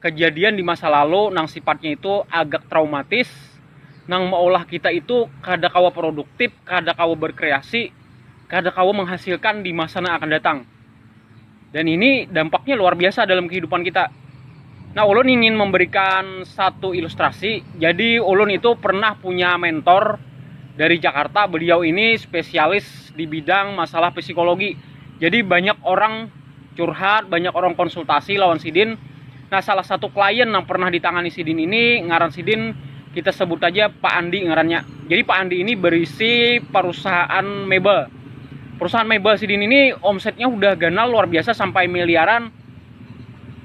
kejadian di masa lalu nang sifatnya itu agak traumatis nang maulah kita itu kada kawa produktif, kada kawa berkreasi, kada kawa menghasilkan di masa nang akan datang. Dan ini dampaknya luar biasa dalam kehidupan kita. Nah, ulun ingin memberikan satu ilustrasi. Jadi ulun itu pernah punya mentor dari Jakarta. Beliau ini spesialis di bidang masalah psikologi. Jadi banyak orang curhat banyak orang konsultasi lawan sidin nah salah satu klien yang pernah ditangani sidin ini ngaran sidin kita sebut aja Pak Andi ngarannya jadi Pak Andi ini berisi perusahaan mebel perusahaan mebel sidin ini omsetnya udah ganal luar biasa sampai miliaran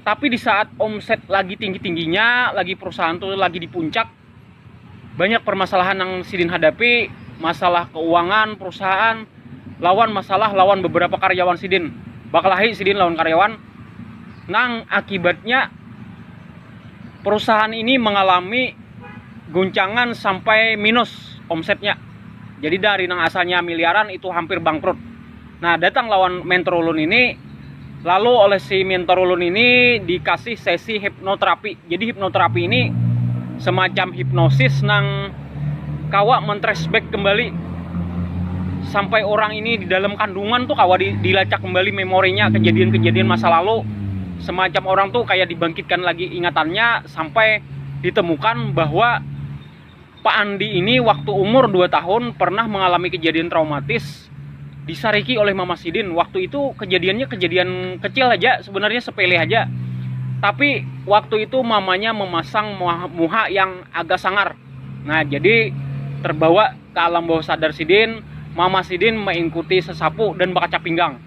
tapi di saat omset lagi tinggi-tingginya lagi perusahaan tuh lagi di puncak banyak permasalahan yang sidin hadapi masalah keuangan perusahaan lawan masalah lawan beberapa karyawan sidin bakalahi sidin lawan karyawan nang akibatnya perusahaan ini mengalami guncangan sampai minus omsetnya jadi dari nang asalnya miliaran itu hampir bangkrut Nah, datang lawan mentor ulun ini, lalu oleh si mentor ulun ini dikasih sesi hipnoterapi. Jadi hipnoterapi ini semacam hipnosis nang kawa mentresback kembali sampai orang ini di dalam kandungan tuh kawa di, dilacak kembali memorinya kejadian-kejadian masa lalu semacam orang tuh kayak dibangkitkan lagi ingatannya sampai ditemukan bahwa Pak Andi ini waktu umur 2 tahun pernah mengalami kejadian traumatis disariki oleh Mama Sidin. Waktu itu kejadiannya kejadian kecil aja, sebenarnya sepele aja. Tapi waktu itu mamanya memasang muha yang agak sangar. Nah, jadi terbawa ke alam bawah sadar Sidin, Mama Sidin mengikuti sesapu dan bakaca pinggang.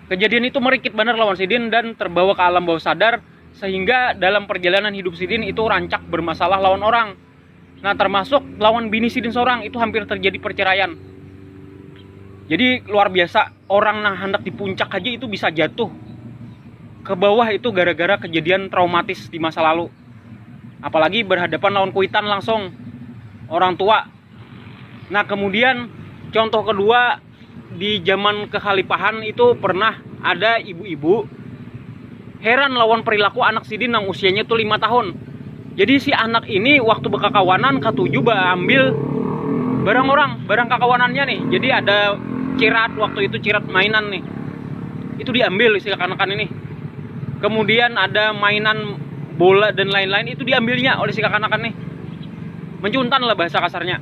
Kejadian itu merikit benar lawan Sidin dan terbawa ke alam bawah sadar Sehingga dalam perjalanan hidup sidin itu rancak bermasalah lawan orang. Nah termasuk lawan bini sidin seorang itu hampir terjadi perceraian. Jadi luar biasa orang nang hendak di puncak aja itu bisa jatuh ke bawah itu gara-gara kejadian traumatis di masa lalu. Apalagi berhadapan lawan kuitan langsung orang tua. Nah kemudian contoh kedua di zaman kekhalifahan itu pernah ada ibu-ibu heran lawan perilaku anak sidin yang usianya tuh lima tahun. Jadi si anak ini waktu berkakawanan katuju ambil barang orang, barang kakawanannya nih. Jadi ada cirat waktu itu cirat mainan nih. Itu diambil si kakanakan ini. Kemudian ada mainan bola dan lain-lain itu diambilnya oleh si kakanakan nih. Mencuntan lah bahasa kasarnya.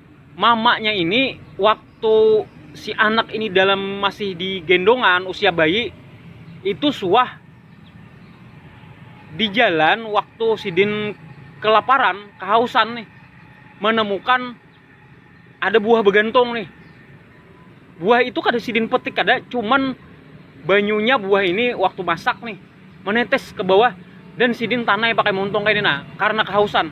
mamanya ini waktu si anak ini dalam masih di gendongan usia bayi itu suah di jalan waktu sidin kelaparan kehausan nih menemukan ada buah begantung nih buah itu kada sidin petik kada cuman banyunya buah ini waktu masak nih menetes ke bawah dan sidin tanai pakai muntung kayak ini nah karena kehausan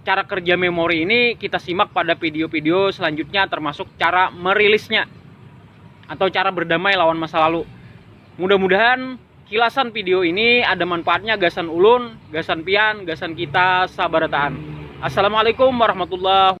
cara kerja memori ini kita simak pada video-video selanjutnya termasuk cara merilisnya atau cara berdamai lawan masa lalu. Mudah-mudahan kilasan video ini ada manfaatnya gasan ulun, gasan pian, gasan kita sabarataan. Assalamualaikum warahmatullahi wabarakatuh.